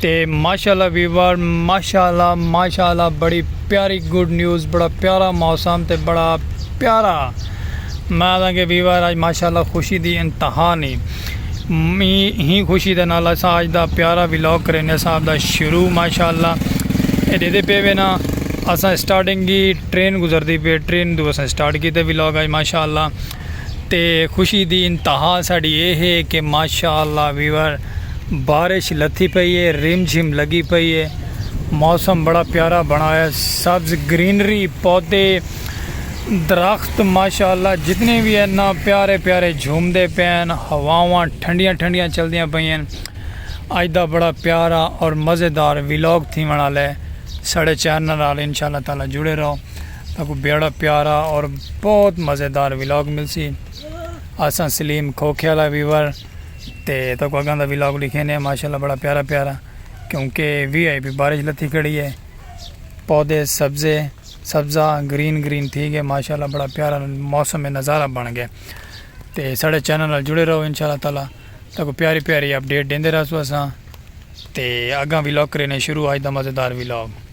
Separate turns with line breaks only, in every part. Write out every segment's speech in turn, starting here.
تے ماشاءاللہ ویور ماشاءاللہ ماشاءاللہ بڑی پیاری گڈ نیوز بڑا پیارا موسم تے بڑا پیارا میں آدھاں کہ ویور آج ماشاءاللہ خوشی دی انتہا نہیں می ہی خوشی دے نال اساں آج دا پیارا ولاگ کرینے صاحب دا شروع ماشاءاللہ اے دے دے پے وینا اساں سٹارٹنگ کی ٹرین گزر دی پے ٹرین دو اساں سٹارٹ کیتے ولاگ آج ماشاءاللہ تے خوشی دی انتہا ساڈی اے ہے کہ ماشاء اللہ ویور بارش لتھی پئی اے رم جھم لگی پئی اے موسم بڑا پیارا بنا ہویا سبز گرینری پودے درخت ماشاء اللہ جتنے بھی ہیں نا پیارے پیارے جھوم دے پین ہواواں ٹھنڈیاں ٹھنڈیاں چل دیاں پئی ہیں اج دا بڑا پیارا اور مزیدار ویلاگ تھی ونا لے ساڈے چینل نال انشاء اللہ تعالی جڑے رہو۔ تہاکوں بیڑا پیارا اور بہت مزیدار ولاگ ملسی اساں سلیم کھوکھے والا ویور تے تہاکوں اگاں دا ولاگ ڈکھینے ہیں ماشاءاللہ بڑا پیارا پیارا کیونکہ وی آئی پی بارش لتھی کھڑی ہے پودے سبزے سبزہ گرین گرین تھی گئے ماشاءاللہ بڑا پیارا موسم نظارہ بن گئے تے ساڑے چینل نال جڑے رہو انشاءاللہ تعالی تہاکوں پیاری پیاری اپڈیٹ دیندے رہسو اساں تے اگاں ولاگ کرینے شروع آج دا مزیدار ولاگ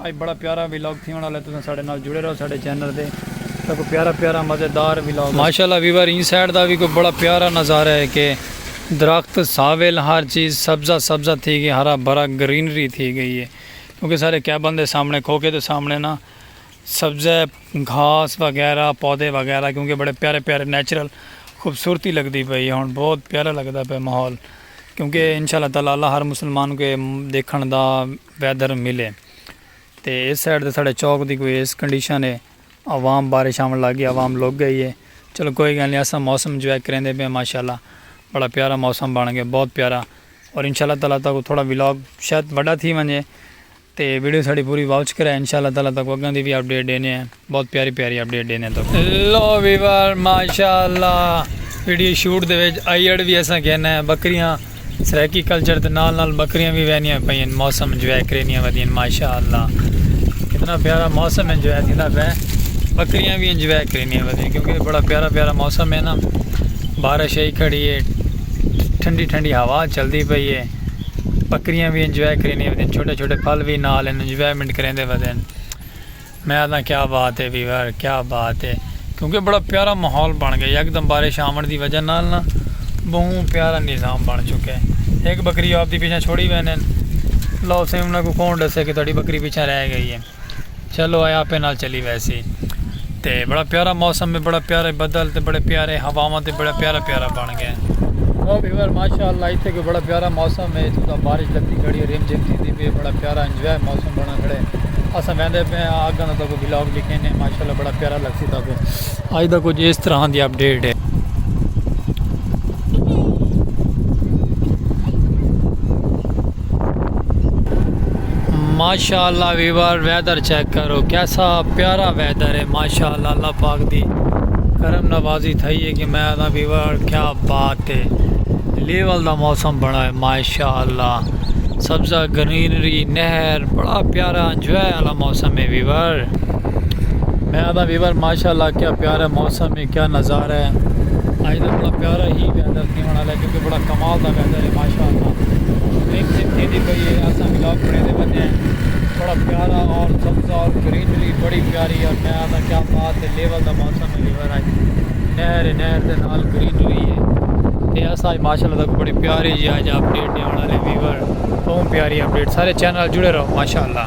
اج بڑا پیارا ویلاگ تھیونڑ آلا ہے تساں ساڈے نال جڑے رہو ساڈے چینل تے تاں کوئی پیارا پیارا مزیدار ویلاگ۔ ماشاءاللہ ویور ایں سائیڈ دا وی کوئی بڑا پیارا نظارہ ہے کہ درخت ساویل ہر چیز سبزہ سبزہ تھی گئی ہرا بھرا گرینری تھی گئی ہے کیونکہ سارے کیبن دے سامنے کھوکھے دے سامنے نا سبزہ گھاس وغیرہ پودے وغیرہ کیونکہ بڑے پیارے پیارے نیچرل خوبصورتی لگدی پئی ہے ہن بہت پیارا لگدا پیا ماحول کیونکہ انشاءاللہ تعالی اللہ ہر مسلمان کو دیکھن دا ویدھر مل ہے تے ایس سائیڈ تے ساڑے چوک دی کوئی ایس کنڈیشن ہے عوام بارش آون لگ گئی عوام لگ گئی ہے چلو کوئی گل نہیں اساں موسم جوائے کریندے پے ہیں ماشاءاللہ بڑا پیارا موسم بن گیا بہت پیارا اور انشاءاللہ تعالی تاکو تھوڑا ولاگ شاید وڈا تھی ونجے تے ویڈیو ساڑی پوری واچ کرے انشاءاللہ تعالی تاکو اگاں دی بھی اپڈیٹ ڈینے ہیں۔ بہت پیاری پیاری اپڈیٹ ڈینے تو۔ لو ویور ماشاءاللہ ویڈیو شوٹ دے وچ آئیڈ وی اساں گھن ہیں بکریاں سرائیکی کلچر دے نال نال بکریاں وی وہنیاں پئین موسم انجوائے کرینیاں ودین ماشاءاللہ کتنا پیارا موسم انجوائے تھیندا پئے بکریاں وی انجوائے کرینیاں ودین کیونکہ بڑا پیارا پیارا موسم ہے نا بارش ہی کھڑی ہے ٹھنڈی ٹھنڈی ہوا چلدی پئی ہے بکریاں وی انجوائے کرینیاں ودین چھوٹے چھوٹے پھل وی نال انجوائمنٹ کریندے ودین میں آکھداں کیا بات ہے ویور کیا بات ہے کیونکہ بڑا پیارا ماحول بن گیا یکدم بارش آون دی وجہ نال نا بہوں پیارا نظام بن چکے ایک بکری آپ دی پیچھے چھوڑی وینے لو سیں انہاں کو کون ڈسے کہ تہاڈی بکری پیچھے رہ گئی ہے چلو اے آپے نال چلی ویسی تے بڑا پیارا موسم ہے بڑا پیارا بدل تے بڑے پیارے ہواواں تے بڑا پیارا پیارا بن او ویور ماشاءاللہ ایتھے کوئی بڑا پیارا موسم ہے جتھاں بارش لگدی کھڑی ہے رم جھم تھیندی پئی ہے بڑا پیارا انجوائے موسم بنا کھڑا ہے اساں ویندے پئے ہاں اگاں دا تاکو ولاگ لکھینے ماشاءاللہ بڑا پیارا لگسی تاکو اج دا کچھ اس طرح دی اپڈیٹ ہے ماشاءاللہ ویور ویدر چیک کرو کیسا پیارا ویدر ہے ماشاءاللہ اللہ اللہ پاک دی کرم نوازی تھئی ہے کہ میں آدھا ویور کیا بات ہے لیول دا موسم بڑا ہے ماشاءاللہ سبزہ گرینری نہر بڑا پیارا انجوائے والا موسم ہے ویور میں آدھا ویور ماشاءاللہ کیا پیارا موسم ہے کیا نظارہ ہے اج دا بڑا پیارا ہی ویدر تھیون آلا ہے کیونکہ بڑا کمال دا ویدر ہے ماشاءاللہ رم جھم تھیندی پئی ہے اساں ولاگ بنیندے پنے ہیں بڑا پیارا اور سبزہ اور گرینری بڑی پیاری اور میں آتا کیا بات ہے لیول دا موسم ہے لیور آج نہر نہر دے نال گرینری ہے تے اساں اج ماشاءاللہ تک بڑی پیاری جی اج اپ ڈیٹ دیون والے ویور بہت پیاری اپ ڈیٹ سارے چینل جڑے رہو ماشاءاللہ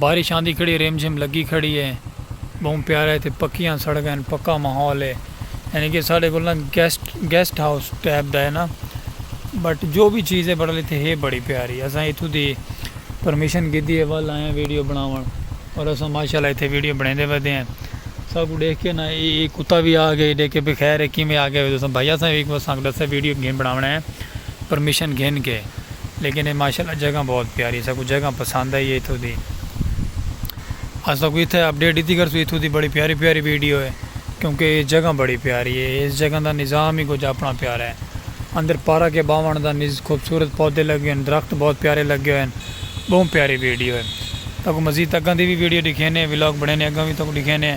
بارش آندی کھڑی ہے رم جھم لگی کھڑی ہے بہوں پیارا ہے تے پکیاں سڑکاں ہن پکا ماحول ہے یعنی کہ ساڈے کول نا گیسٹ گیسٹ ہاؤس ٹائپ دا ہے نا بٹ جو بھی چیز ہے بٹ اتھے ہے بڑی پیاری اساں اتھوں دی پرمیشن گھدی ہے ول آیاں ویڈیو بناون اور اساں ماشاءاللہ اتھے ویڈیو بنیندے ودے ہیں ساکوں ڈیکھ کے نا اے اے کتا وی آ گئے ڈیکھ کے بھئی خیر اے کیویں آ گئے تساں بھائی اساں وی اساں کو ڈسے ویڈیو گھن بناونا ہے پرمیشن گھن کے۔ لیکن اے ماشاءاللہ جگہ بہت پیاری اساں کوں جگہ پسند آئی ہے اتھوں دی اساں تہاکوں اتھے اپڈیٹ ڈتی کرسوں اتھوں دی بڑی پیاری پیاری ویڈیو ہے کیونکہ اے جگہ بڑی پیاری ہے اس جگہ دا نظام ہی کچھ اپنا پیارا ہے اندر پارک ہے باون دا نز خوبصورت پودے لگے ہوئے ہیں درخت بہت پیارے لگے ہوئے ہیں بہوں پیاری ویڈیو ہے تہاکوں مزید اگاں دی وی ویڈیو ڈکھینے ولاگ بنینے اگاں وی تہاکوں ڈکھینے۔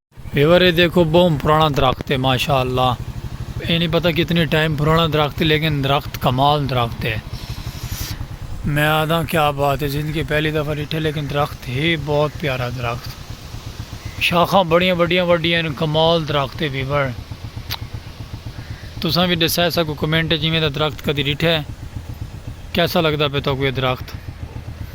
ویور اے دیکھو بہوں پرانا درخت اے ماشاءاللہ اے نی پتہ کتنی ٹائم پرانا درخت لیکن درخت کمال درخت اے میں آدھا کیا بات اے زندگی پہلی دفعہ ڈٹھے لیکن درخت ہے بہت پیارا درخت شاخاں بڑیاں وڈیاں وڈیاں کمال درخت اے ویور تساں بھی دسائے سکو کمنٹ جویں دا درخت کدی ڈٹھے کیسا لگدا پہ تو کوئی درخت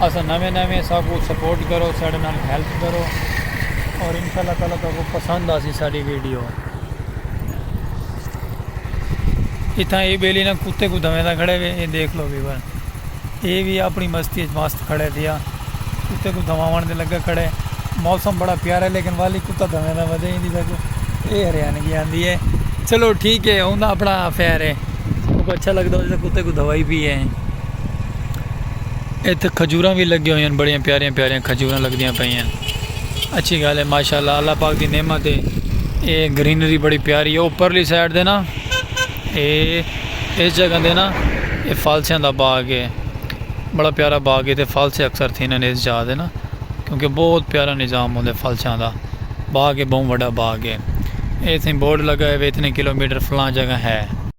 اساں نویں نویں ساکوں سپورٹ کرو ساڈے نال ہیلپ کرو اور انشاءاللہ تعالی تہاکوں پسند آسی ساڈی ویڈیو اتھاں اے بیلی نا کتے کو دھویں دا کھڑے وے اے دیکھ لو ویور اے وی اپنی مستی اچ مست کھڑے دیا کتے کو دھواون دے لگا کھڑے موسم بڑا پیارا ہے لیکن والی کتا دھویں دا ودے ہی دیکھو اے ہریان کی آندی ہے چلو ٹھیک ہے اوندا اپنا افیئر ہے کو اچھا لگدا ہو جے کتے کو دھوائی بھی ہے اتھے کھجوراں وی لگیاں ہویاں ہن بڑیاں پیاریاں پیاریاں کھجوراں لگدیاں پیاں ہن اچھی گال ہے ماشاءاللہ اللہ پاک دی نعمت ہے اے گرینری بڑی پیاری ہے اوپرلی سائیڈ دے نا اے اس جگہ دے نا اے فالسیاں دا باغ ہے بڑا پیارا باغ ہے تے فالسے اکثر تھیندے ہن اس جگہ دے نا کیونکہ بہت پیارا نظام ہوندے فالسیاں دا باغ ہے بہوں وڈا باغ ہے ایتھے بورڈ لگا ہے ویتھے کلو میٹر فلاں جگہ ہے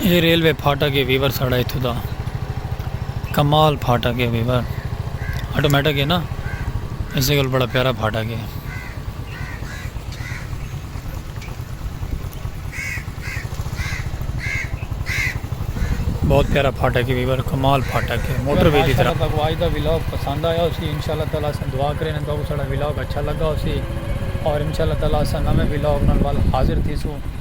اے ریلوے پھاٹک ہے ویور ساڑا ایتھوں دا کمال پھاٹک ہے ویور آٹومیٹک ہے نا اسے گل بڑا پیارا پھاٹک ہے بہت پیارا پھاٹک ہے ویور کمال پھاٹک ہے موٹر وے دی طرح بگواج دا ویلاگ پسند آیا اسی انشاءاللہ تعالی سن دعا کریں تو ساڑا ویلاگ اچھا لگا اسی اور انشاءاللہ تعالی سن نویں ویلاگ نال حاضر تھیسوں